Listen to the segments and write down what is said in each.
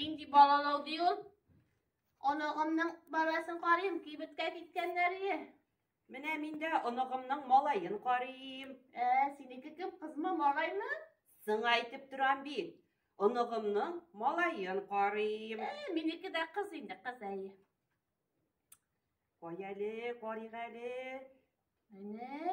Нинди балалау ди ул? Оныгымның баласын карыйм, кибеткә киткәннәре. Менә мин дә оныгымның малаен карыйм. Ә, синеке кем, кызмы, малаймы? Сыңа әйтеп торам бит. Оныгымның малаен карыйм. Ә, минеке дә кыз инде, кыз әйе. Кай әле, карыйк әле. Менә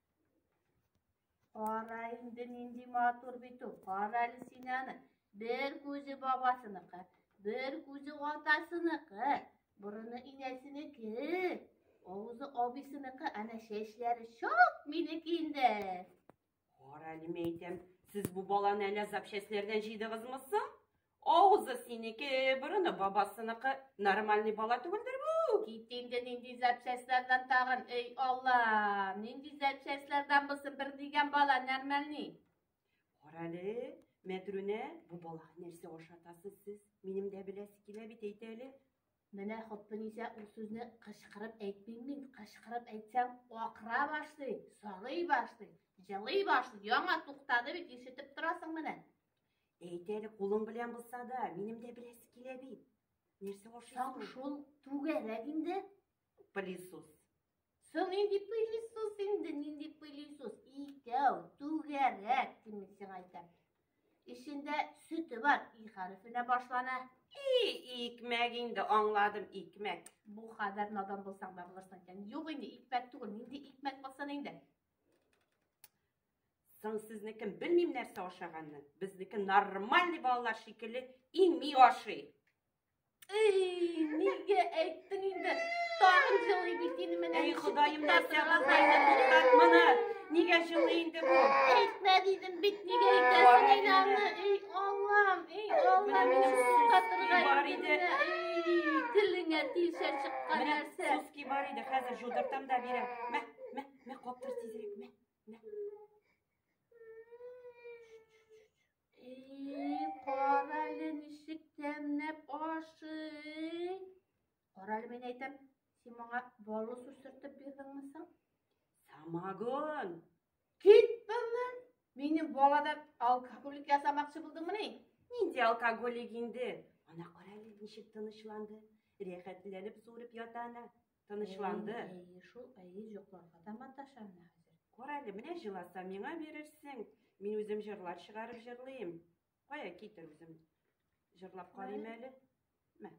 Кара инде нинди матур бит ул. Кара әле син аны. Бер күзе бабасыныкы, бер күзе атасыныкы, борыны инәсенеке, авызы абисыныкы, әнә чәчләре шок минеке инде. Кара әле мәйтәм, сез бу баланы әле запчастьләрдән җыйдыгызмы соң? Авызы синеке, борыны бабасыныкы. Нормальный бала түгелдер бу. Кит инде нинди запчастьлардан тагын. Эй, Алла, нинди запчастьлардан булсын бер дигән бала нормальный. Карале, Мәтрүнә, бу балага нәрсә ашатасыз сез? Минем дә беләсе килә бит әйтә әле. Менә Хөппенисә ул сүзне кычкырып әйтмим мин. Кычкырып әйтсәң, акыра башлый, сагый башлый, җылый башлый. Яңа туктады бит, ишетеп торасың менә. Әйт әле, кулың белән булса да, минем дә беләсе килә бит. Нәрсә ашыйсың? Тап шул түгәрәк инде. Пылесос. Соң инде пылесос инде, нинди пылесос? Икәү, түгәрәк, кем сиңа әйтәм. Эчендә сөте бар, и хәрефенә башлана. И, икмәк инде, аңладым, икмәк. Бу хәдәр надан булсаң да булырсың икән. Юк инде, икмәк түгел, нинди икмәк булсын инде. Соң сезнекен белмим нәрсә ашаганны. Безнеке нормальный балалар шикелле ими ашый. Эй, нигә әйттең инде? Тагын җылый бит инде менә. Эй, Ходаем, нәрсә булганда туктат моны. Нигә җылый инде бу? Әйтмә дидем бит, нигә әйтәсең инде аны? Эй, Аллам, эй, Аллам, менә суктатырга бар иде. Эй, телеңә тиешә чыккан нәрсә. Менә суски бар иде, хәзер җудыртам да бирәм. Мә, мә, мә, каптыр тизрәк, мә. Карале ничек тәмләп ашый. Карале мен әйтәм, син моңа балы сүсертеп бирдеңме соң? Самагон. Кит быннан. Минем балада алкоголик ясамакчы булдыңмы ни? Нинди алкоголик инде? Ана карале ничек тынычланды. Рәхәтләнеп сурып ята ана. Тынычланды. Әйе, шул, әйе, йокларга да маташа менә хәзер. Кор әле, менә җыласа, миңа бирерсең. Мин үзем җырлар чыгарып җырлыйм. Кая китер үзем. Җырлап карыйм әле. Мә.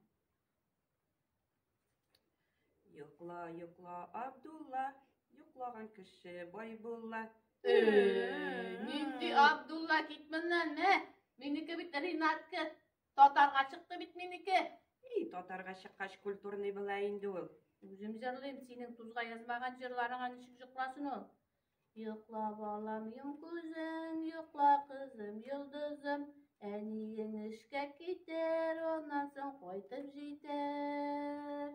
Йокла, йокла, Абдулла, йоклаган кеше бай була. Нинди Абдулла кит моннан, мә. Минеке бит Ринатка. Татарга чыкты бит минеке. И, татарга чыккач культурный була инде ул. Үзем җырлыйм, синең тузга язмаган җырларыңа ничек җыкласын ул? Йокла, балам, йом күзең, йокла, кызым, йолдызым. Әниең эшкә китәр, аннан соң кайтып җитәр.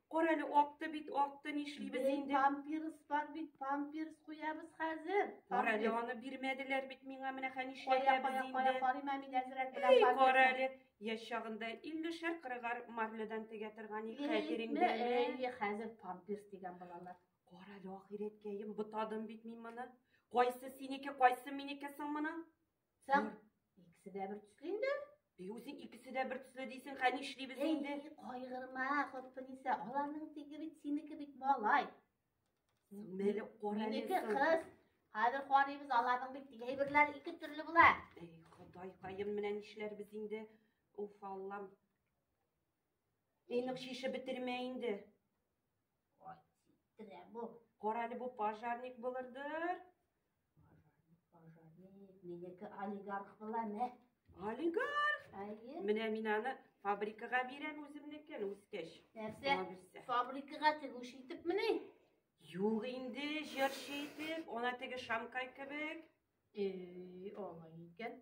Кара әле акты бит, акты нишлибез инде? Памперс бар бит, памперс куябыз хәзер. Кара әле аны бирмәделәр бит миңа, менә хәни нишләтәбез инде. Кая, кая, карыйм мин әзрәк белән памперс. Кара әле, яшь чагында 50 шәр кырыгар марледан тегә торган ик хәзер инде. Әйе, хәзер памперс дигән балалар. Кара әле ахирәткәем, бутадым бит мин моны. Кайсы синеке, кайсы минеке соң моның? Соң, икесе дә бер төсле инде. И үзе икесе дә бер төсле дисең, хә нишлибез инде? Әй, кайгырма, Хөсниса, аларның теге бит синеке бит малай. Менә кара Минеке кыз. Хәзер карыйбыз, аларның бит теге әйберләре ике төрле була. Әй, Ходай каем, менә нишләрбез инде? Уф, Аллам. Эй, нык шише бетермә инде. Ай, ситтирә бу. Кара әле бу пожарник булырдыр. Пожарник, пожарник, минеке олигарх була, мә. Олигарх? Әйе. Менә мин аны фабрикага бирәм үземнекен үскәч. Нәрсә? Фабрикага тегүш итеп мени? Юк инде, җырчы итеп, ана теге шамкай кебек. Эй, алай икән.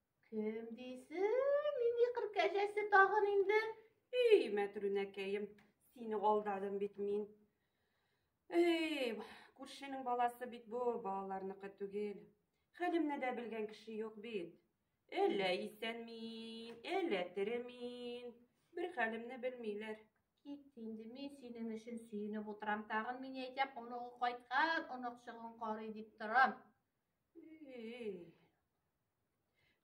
Кем дисең, нинди кыр кәҗәсе тагын инде? Эй, мәтрүнәкәем, сине алдадым бит мин. Эй, күршенең баласы бит бу, балаларныкы түгел. Хәлемне дә белгән кеше юк бит. Әллә исән мин, әллә тере мин. Бер хәлемне белмиләр. Кит инде, мин синең өчен сөенеп утырам. Тагын мин әйтәм, оныгы кайткан, онык чыгын карый дип торам. Эй,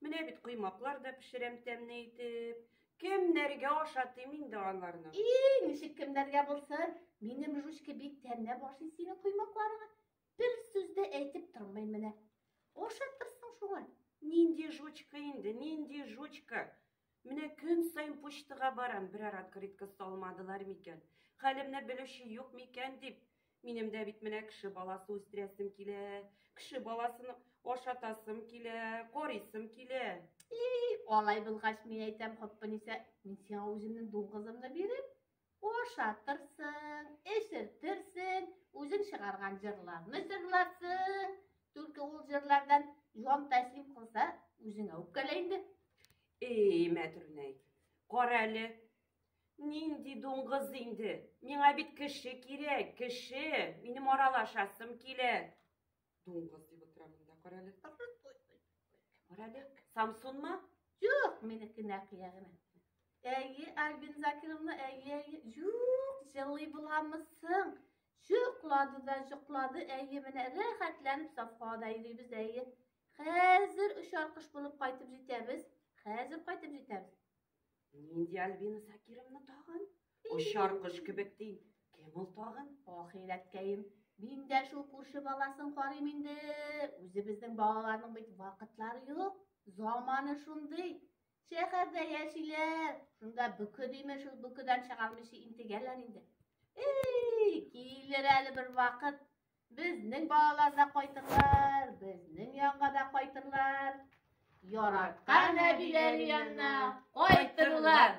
Менә бит коймаклар да пешерәм тәмне итеп. Кемнәргә ашатыйм инде аларны? И, ничек кемнәргә булсын? Минем жучка бик тәмләп ашый синең коймакларыңа. Бер сүз дә әйтеп тормый менә. Ашатырсың шуңа. Нинди жучка инде, нинди жучка? Менә көн саен почтага барам, берәр открытка салмадылар микән, хәлемне белүче юк микән дип. Минем дә бит менә кеше баласы үстерәсем килә, кеше баласын ашатасым килә, карыйсым килә. И, алай булгач, мин әйтәм, Хоппаниса, мин сиңа үземнең дуңгызымны бирим. Ашатырсың, эчертерсең, үзең чыгарган җырларны җырларсың. Только ул җырлардан җан тәслим кылса, үзеңә үпкәлә инде. Эй, Мәтрүнәй, кара әле. Нинди дуңгыз инде. Миңа бит кеше кирәк, кеше. Минем аралашасым килә. Дуңгыз дип утыра монда, карале. Карале, Самсунмы? Юк, минеке нәкия генә. Әйе, Альбин Закировна, әйе, әйе. Юк, җылый буламысың? Җоклады да җоклады, әйе, менә рәхәтләнеп сафка да йөрибез, әйе. Хәзер очар кыш булып кайтып җитәбез. Хәзер кайтып җитәбез. Нинди Альбина Сакировна тагын? Очар кош кебек ди. Кем ул тагын? Ох, иләткәем. Мин дә шул күрше баласын карыйм инде. Үзебезнең балаларның бит вакытлары юк. Заманы шундый. Шәһәрдә яшиләр. Шунда бүке димә шул бүкедән чыгармыйча интегәләр инде. Эй, килер әле бер вакыт. Безнең балалар да кайтырлар, безнең янга да кайтырлар. Яраткан әбиләр янына кайтырлар.